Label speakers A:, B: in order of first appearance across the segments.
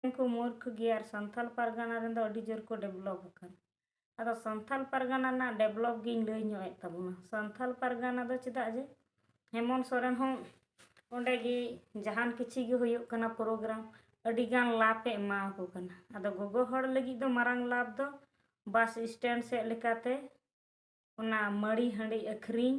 A: ᱠᱚ ᱢᱩᱨᱠᱷ ᱜᱮᱭᱟ ᱟᱨ ᱥᱟᱱᱛᱟᱲ ᱯᱟᱨᱜᱟᱱᱟ ᱨᱮᱱ ᱫᱚ ᱟᱹᱰᱤ ᱡᱳᱨ ᱠᱚ ᱰᱮᱵᱷᱞᱚᱯ ᱟᱠᱟᱱᱟ ᱟᱫᱚ ᱥᱟᱱᱛᱟᱲ ᱯᱟᱨᱜᱟᱱᱟ ᱨᱮᱱᱟᱜ ᱰᱮᱵᱷᱞᱚᱯ ᱜᱤᱧ ᱞᱟᱹᱭ ᱧᱚᱜ ᱮᱫ ᱛᱟᱵᱚᱱᱟ ᱥᱟᱱᱛᱟᱲ ᱯᱟᱨᱜᱟᱱᱟ ᱫᱚ ᱪᱮᱫᱟᱜ ᱡᱮ ᱦᱮᱢᱚᱱᱛ ᱥᱚᱨᱮᱱ ᱦᱚᱸ ᱚᱸᱰᱮ ᱜᱮ ᱡᱟᱦᱟᱱ ᱠᱤᱪᱷᱩ ᱜᱮ ᱦᱩᱭᱩᱜ ᱠᱟᱱᱟ ᱯᱨᱳᱜᱨᱟᱢ ᱟᱹᱰᱤ ᱜᱟᱱ ᱞᱟᱵᱷ ᱮ ᱮᱢᱟ ᱟᱠᱚ ᱠᱟᱱᱟ ᱟᱫᱚ ᱜᱚᱜᱚ ᱦᱚᱲ ᱞᱟᱹᱜᱤᱫ ᱫᱚ ᱢᱟᱨᱟᱝ ᱞᱟᱵᱷ ᱫᱚ ᱵᱟᱥ ᱥᱴᱮᱱᱰ ᱥᱮᱫ ᱞᱮᱠᱟᱛᱮ ᱚᱱᱟ ᱢᱟᱹᱲᱤ ᱦᱟᱺᱰᱤ ᱟᱹᱠᱷᱨᱤᱧ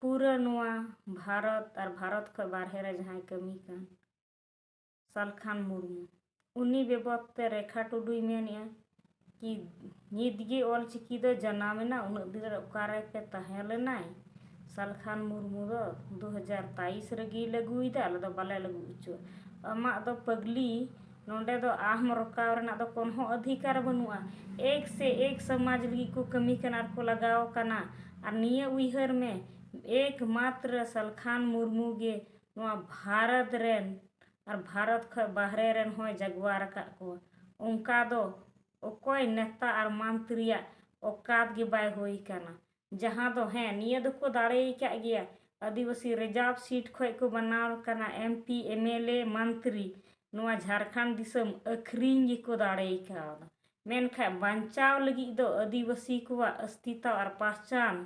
A: ᱯᱩᱨᱟᱹ ᱱᱚᱣᱟ ᱵᱷᱟᱨᱚᱛ ᱟᱨ ᱵᱷᱟᱨᱚᱛ ᱠᱷᱚᱱ ᱵᱟᱨᱦᱮ ᱨᱮ ᱡᱟᱦᱟᱸᱭ ᱠᱟᱹᱢᱤ ᱠᱟᱱ ᱥᱟᱞᱠᱷᱟᱱ ᱢᱩᱨᱢᱩ ᱩᱱᱤ ᱵᱮᱵᱚᱛ ᱛᱮ ᱨᱮᱠᱷᱟ ᱴᱩᱰᱩᱭ ᱢᱮᱱᱮᱜᱼᱟ ᱠᱤ ᱱᱤᱛ ᱜᱮ ᱚᱞ ᱪᱤᱠᱤ ᱫᱚ ᱡᱟᱱᱟᱢᱮᱱᱟ ᱩᱱᱟᱹᱜ ᱫᱤᱱ ᱨᱮ ᱚᱠᱟᱨᱮ ᱯᱮ ᱛᱟᱦᱮᱸ ᱞᱮᱱᱟᱭ ᱥᱟᱞᱠᱷᱟᱱ ᱢᱩᱨᱢᱩ ᱫᱚ ᱫᱩ ᱦᱟᱡᱟᱨ ᱛᱮᱭᱤᱥ ᱨᱮᱜᱮᱭ ᱞᱟᱹᱜᱩᱭᱮᱫᱟ ᱟᱞᱮ ᱫᱚ ᱵᱟᱞᱮ ᱞᱟᱹᱜᱩ ᱦᱚᱪᱚᱣᱟᱜᱼᱟ ᱟᱢᱟᱜ ᱫᱚ ᱯᱟᱹᱜᱽᱞᱤ ᱱᱚᱸᱰᱮ ᱫᱚ ᱟᱦ ᱢᱚᱨᱚᱠᱟᱣ ᱨᱮᱱᱟᱜ ᱫᱚ ᱠᱚᱱᱚ ᱦᱚᱸ ᱚᱫᱷᱤᱠᱟᱨ ᱵᱟᱹᱱᱩᱜᱼᱟ ᱮᱠ ᱥᱮ ᱮᱠ ᱥᱚᱢᱟᱡᱽ ᱞᱟᱹᱜᱤᱫ ᱠᱚ ᱠᱟᱹᱢᱤ ᱠᱟᱱᱟ ᱟᱨ ᱠᱚ ᱞᱟᱜᱟᱣ ᱟᱠᱟᱱᱟ ᱟᱨ ᱱᱤᱭᱟᱹ ᱩᱭᱦᱟᱹᱨ ᱢᱮ ᱮᱠ ᱢᱟᱛᱨᱚ ᱥᱟᱞᱠᱷᱟᱱ ᱢᱩᱨᱢᱩ ᱜᱮ ᱱᱚᱣᱟ ᱵᱷᱟᱨᱚᱛ ᱨᱮᱱ ᱟᱨ ᱵᱷᱟᱨᱚᱛ ᱠᱷᱚᱱ ᱵᱟᱦᱨᱮ ᱨᱮᱱ ᱦᱚᱸᱭ ᱡᱟᱜᱽᱣᱟᱨ ᱟᱠᱟᱫ ᱠᱚᱣᱟ ᱚᱱᱠᱟ ᱫᱚ ᱚᱠᱚᱭ ᱱᱮᱛᱟ ᱟᱨ ᱢᱚᱱᱛᱨᱤᱭᱟᱜ ᱚᱠᱟᱛ ᱜᱮ ᱵᱟᱭ ᱦᱩᱭ ᱟᱠᱟᱱᱟ ᱡᱟᱦᱟᱸ ᱫᱚ ᱦᱮᱸ ᱱᱤᱭᱟᱹ ᱫᱚᱠᱚ ᱫᱟᱲᱮ ᱟᱠᱟᱫ ᱜᱮᱭᱟ ᱟᱹᱫᱤᱵᱟᱹᱥᱤ ᱨᱤᱡᱟᱨᱵᱷ ᱥᱤᱴ ᱠᱷᱚᱱ ᱠᱚ ᱵᱮᱱᱟᱣ ᱟᱠᱟᱱᱟ M P M L A ᱢᱚᱱᱛᱨᱤ ᱱᱚᱣᱟ ᱡᱷᱟᱲᱠᱷᱚᱸᱰ ᱫᱤᱥᱚᱢ ᱟᱹᱠᱷᱨᱤᱧ ᱜᱮᱠᱚ ᱫᱟᱲᱮ ᱟᱠᱟᱣᱫᱟ ᱢᱮᱱᱠᱷᱟᱱ ᱵᱟᱧᱪᱟᱣ ᱞᱟᱹᱜᱤᱫ ᱫᱚ ᱟᱹᱫᱤᱵᱟᱹᱥᱤ ᱠᱚᱣᱟᱜ ᱚᱥᱛᱤᱛᱟ ᱟᱨ ᱯᱟᱦᱪᱟᱱ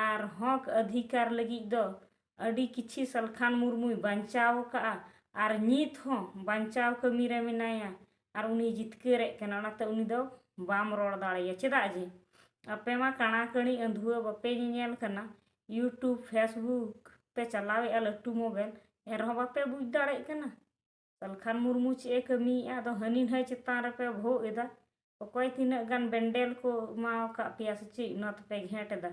A: ᱟᱨ ᱦᱚᱸᱠ ᱚᱫᱷᱤᱠᱟᱨ ᱞᱟᱹᱜᱤᱫ ᱫᱚ ᱟᱹᱰᱤ ᱠᱤᱪᱷᱤ ᱥᱟᱞᱠᱷᱟᱱ ᱢᱩᱨᱢᱩᱭ ᱵᱟᱧᱪᱟᱣ ᱟᱠᱟᱫᱼᱟ ᱟᱨ ᱱᱤᱛ ᱦᱚᱸ ᱵᱟᱧᱪᱟᱣ ᱠᱟᱹᱢᱤ ᱨᱮ ᱢᱮᱱᱟᱭᱟ ᱟᱨ ᱩᱱᱤ ᱡᱤᱛᱠᱟᱹᱨᱮᱫ ᱠᱟᱱᱟ ᱚᱱᱟᱛᱮ ᱩᱱᱤ ᱫᱚ ᱵᱟᱢ ᱨᱚᱲ ᱫᱟᱲᱮᱭᱟᱭᱟ ᱪᱮᱫᱟᱜ ᱡᱮ ᱟᱯᱮ ᱢᱟ ᱠᱟᱬᱟ ᱠᱟᱹᱬᱤ ᱟᱹᱫᱷᱩᱣᱟᱹ ᱵᱟᱯᱮ ᱧᱮᱧᱮᱞ ᱠᱟᱱᱟ ᱤᱭᱩᱴᱩᱵᱽ ᱯᱷᱮᱥᱵᱩᱠ ᱯᱮ ᱪᱟᱞᱟᱣᱮᱫᱼᱟ ᱞᱟᱹᱴᱩ ᱢᱳᱵᱟᱭᱤᱞ ᱮᱱ ᱨᱮᱦᱚᱸ ᱵᱟᱯᱮ ᱵᱩᱡᱽ ᱫᱟᱲᱮᱭᱟᱜ ᱠᱟᱱᱟ ᱥᱟᱞᱠᱷᱟᱱ ᱢᱩᱨᱢᱩ ᱪᱮᱫ ᱮ ᱠᱟᱹᱢᱤᱭᱮᱫᱼᱟ ᱟᱫᱚ ᱦᱟᱹᱱᱤ ᱱᱟᱹᱭ ᱪᱮᱛᱟᱱ ᱨᱮᱯᱮ ᱵᱷᱳᱜ ᱮᱫᱟ ᱚᱠᱚᱭ ᱛᱤᱱᱟᱹᱜ ᱜᱟᱱ ᱵᱮᱱᱰᱮᱞ ᱠᱚ ᱮᱢᱟ ᱟᱠᱟᱫ ᱯᱮᱭᱟ ᱥᱮ ᱪᱮᱫ ᱚᱱᱟ ᱛᱮᱯᱮ ᱜᱷᱮᱸᱴ ᱮᱫᱟ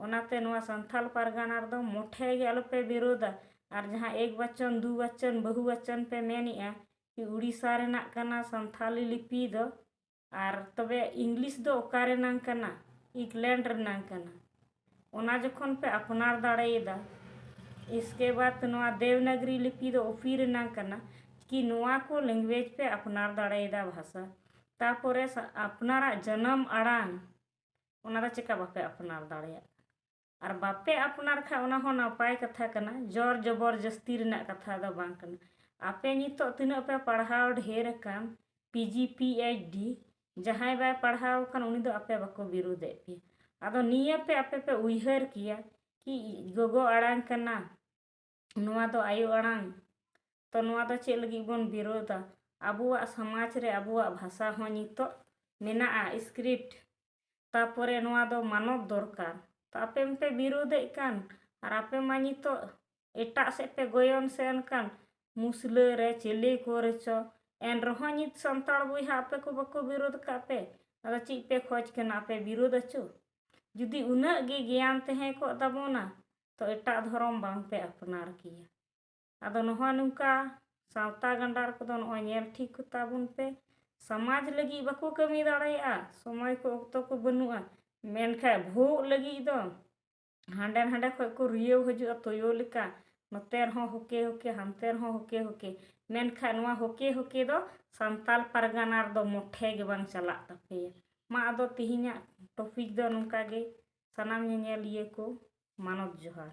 A: ᱚᱱᱟᱛᱮ ᱱᱚᱣᱟ ᱥᱟᱱᱛᱟᱲ ᱯᱟᱨᱜᱟᱱᱟ ᱨᱮᱫᱚ ᱢᱚᱴᱷᱮ ᱜᱮ ᱟᱞᱚᱯᱮ ᱵᱤᱨᱳᱫᱟ ᱟᱨ ᱡᱟᱦᱟᱸ ᱮᱠ ᱵᱟᱪᱚᱱ ᱫᱩ ᱵᱟᱪᱚᱱ ᱵᱟᱹᱦᱩ ᱵᱟᱪᱚᱱ ᱯᱮ ᱢᱮᱱᱮᱫᱼᱟ ᱠᱤ ᱩᱲᱤᱥᱥᱟ ᱨᱮᱱᱟᱜ ᱠᱟᱱᱟ ᱥᱟᱱᱛᱟᱲᱤ ᱞᱤᱯᱤ ᱫᱚ ᱟᱨ ᱛᱚᱵᱮ ᱤᱝᱞᱤᱥ ᱫᱚ ᱚᱠᱟ ᱨᱮᱱᱟᱝ ᱠᱟᱱᱟ ᱤᱝᱞᱮᱱᱰ ᱨᱮᱱᱟᱝ ᱠᱟᱱᱟ ᱚᱱᱟ ᱡᱚᱠᱷᱚᱱ ᱯᱮ ᱟᱯᱱᱟᱨ ᱫᱟᱲᱮᱭᱟᱫᱟ ᱤᱥᱠᱮ ᱵᱟᱫ ᱱᱚᱣᱟ ᱫᱮᱣᱱᱟᱜᱽᱨᱤ ᱞᱤᱯᱤ ᱫᱚ ᱚᱯᱷᱤ ᱨᱮᱱᱟᱝ ᱠᱟᱱᱟ ᱠᱤ ᱱᱚᱣᱟ ᱠᱚ ᱞᱮᱝᱜᱩᱭᱮᱡᱽ ᱯᱮ ᱟᱯᱱᱟᱨ ᱫᱟᱲᱮᱭᱟᱫᱟ ᱵᱷᱟᱥᱟ ᱛᱟᱨᱯᱚᱨᱮ ᱟᱯᱱᱟᱨᱟᱜ ᱡᱟᱱᱟᱢ ᱟᱲᱟᱝ ᱚᱱᱟ ᱫᱚ ᱪᱮᱠᱟ ᱵᱟᱯᱮ ᱟᱯᱱᱟᱨ ᱫᱟᱲᱮᱭᱟᱜ ᱟᱨ ᱵᱟᱯᱮ ᱟᱯᱱᱟᱨ ᱠᱷᱟᱱ ᱚᱱᱟ ᱦᱚᱸ ᱱᱟᱯᱟᱭ ᱠᱟᱛᱷᱟ ᱠᱟᱱᱟ ᱡᱚᱨ ᱡᱚᱵᱚᱨ ᱡᱟᱹᱥᱛᱤ ᱨᱮᱱᱟᱜ ᱠᱟᱛᱷᱟ ᱫᱚ ᱵᱟᱝ ᱠᱟᱱᱟ ᱟᱯᱮ ᱱᱤᱛᱚᱜ ᱛᱤᱱᱟᱹᱜ ᱯᱮ ᱯᱟᱲᱦᱟᱣ ᱰᱷᱮᱨ ᱟᱠᱟᱱ P G P H D ᱡᱟᱦᱟᱸᱭ ᱵᱟᱭ ᱯᱟᱲᱦᱟᱣ ᱟᱠᱟᱱ ᱩᱱᱤ ᱫᱚ ᱟᱯᱮ ᱵᱟᱠᱚ ᱵᱤᱨᱩᱫᱮᱫ ᱯᱮᱭᱟ ᱟᱫᱚ ᱱᱤᱭᱟᱹ ᱯᱮ ᱟᱯᱮ ᱯᱮ ᱩᱭᱦᱟᱹᱨ ᱠᱮᱭᱟ ᱠᱤ ᱜᱚᱜᱚ ᱟᱲᱟᱝ ᱠᱟᱱᱟ ᱱᱚᱣᱟ ᱫᱚ ᱟᱭᱳ ᱟᱲᱟᱝ ᱛᱚ ᱱᱚᱣᱟ ᱫᱚ ᱪᱮᱫ ᱞᱟᱹᱜᱤᱫ ᱵᱚᱱ ᱵᱤᱨᱳᱫᱟ ᱟᱵᱚᱣᱟᱜ ᱥᱚᱢᱟᱡᱽ ᱨᱮ ᱟᱵᱚᱣᱟᱜ ᱵᱷᱟᱥᱟ ᱦᱚᱸ ᱱᱤᱛᱳᱜ ᱢᱮᱱᱟᱜᱼᱟ ᱤᱥᱠᱨᱤᱯᱴ ᱛᱟᱯᱚᱨᱮ ᱱᱚᱣᱟ ᱫᱚ ᱢᱟᱱᱚᱛ ᱫᱚᱨᱠᱟᱨ ᱛᱚ ᱟᱯᱮ ᱢᱟᱯᱮ ᱵᱤᱨᱳᱫᱮᱫ ᱠᱟᱱ ᱟᱨ ᱟᱯᱮ ᱢᱟ ᱱᱤᱛᱳᱜ ᱮᱴᱟᱜ ᱥᱮᱫ ᱯᱮ ᱜᱚᱭᱚᱱ ᱥᱮᱱ ᱠᱟᱱ ᱢᱩᱥᱞᱟᱹ ᱨᱮ ᱪᱤᱞᱤ ᱠᱚᱨᱮ ᱪᱚ ᱮᱱ ᱨᱮᱦᱚᱸ ᱱᱤᱛ ᱥᱟᱱᱛᱟᱲ ᱵᱚᱭᱦᱟ ᱟᱯᱮ ᱠᱚ ᱵᱟᱠᱚ ᱵᱤᱨᱳᱫ ᱠᱟᱜ ᱯᱮ ᱟᱫᱚ ᱪᱮᱫ ᱯᱮ ᱠᱷᱚᱡᱽ ᱠᱟᱱᱟ ᱟᱯᱮ ᱵᱤᱨᱳᱫ ᱟᱪᱚ ᱡᱩᱫᱤ ᱩᱱᱟᱹᱜ ᱜᱮ ᱜᱮᱭᱟᱱ ᱛᱟᱦᱮᱸ ᱠᱚᱜ ᱛᱟᱵᱚᱱᱟ ᱛᱚ ᱮᱴᱟᱜ ᱫᱷᱚᱨᱚᱢ ᱵᱟᱝᱯᱮ ᱟᱯᱱᱟᱨ ᱜᱮᱭᱟ ᱟᱫᱚ ᱱᱚᱜᱼᱚᱭ ᱱᱚᱝᱠᱟ ᱥᱟᱶᱛᱟ ᱜᱟᱸᱰᱟᱨ ᱠᱚᱫᱚ ᱱᱚᱜᱼᱚᱭ ᱧᱮᱞ ᱴᱷᱤᱠ ᱠᱚᱛᱟ ᱵᱚᱱ ᱯᱮ ᱥᱚᱢᱟᱡᱽ ᱞᱟᱹᱜᱤᱫ ᱵᱟᱠᱚ ᱠᱟᱹᱢᱤ ᱫᱟᱲᱮᱭᱟᱜᱼᱟ ᱥᱚᱢᱚᱭ ᱠᱚ ᱚᱠᱛᱚ ᱠᱚ ᱵᱟᱹᱱᱩᱜᱼᱟ ᱢᱮᱱᱠᱷᱟᱱ ᱵᱷᱩᱜ ᱞᱟᱹᱜᱤᱫ ᱫᱚ ᱦᱟᱸᱰᱮ ᱱᱟᱸᱰᱮ ᱠᱷᱚᱱ ᱠᱚ ᱨᱤᱭᱟᱹᱣ ᱦᱤᱡᱩᱜᱼᱟ ᱛᱩᱭᱩ ᱞᱮᱠᱟ ᱱᱚᱛᱮ ᱨᱮᱦᱚᱸ ᱦᱚᱠᱮ ᱦᱚᱠᱮ ᱦᱟᱱᱛᱮ ᱨᱮᱦᱚᱸ ᱦᱚᱠᱮ ᱦᱚᱠᱮ ᱢᱮᱱᱠᱷᱟᱱ ᱱᱚᱣᱟ ᱦᱚᱠᱮ ᱦᱚᱠᱮ ᱫᱚ ᱥᱟᱱᱛᱟᱲ ᱯᱟᱨᱜᱟᱱᱟ ᱨᱮᱫᱚ ᱢᱚᱴᱷᱮ ᱜᱮ ᱵᱟᱝ ᱪᱟᱞᱟᱜ ᱛᱟᱯᱮᱭᱟ ᱢᱟ ᱟᱫᱚ ᱛᱤᱦᱤᱧᱟᱜ ᱴᱚᱯᱤᱠ ᱫᱚ ᱱᱚᱝᱠᱟ ᱜᱮ ᱥᱟᱱᱟᱢ ᱧᱮᱧᱮᱞᱤᱭᱟᱹ ᱠᱚ ᱢᱟᱱᱚᱛ ᱡᱚᱦᱟᱨ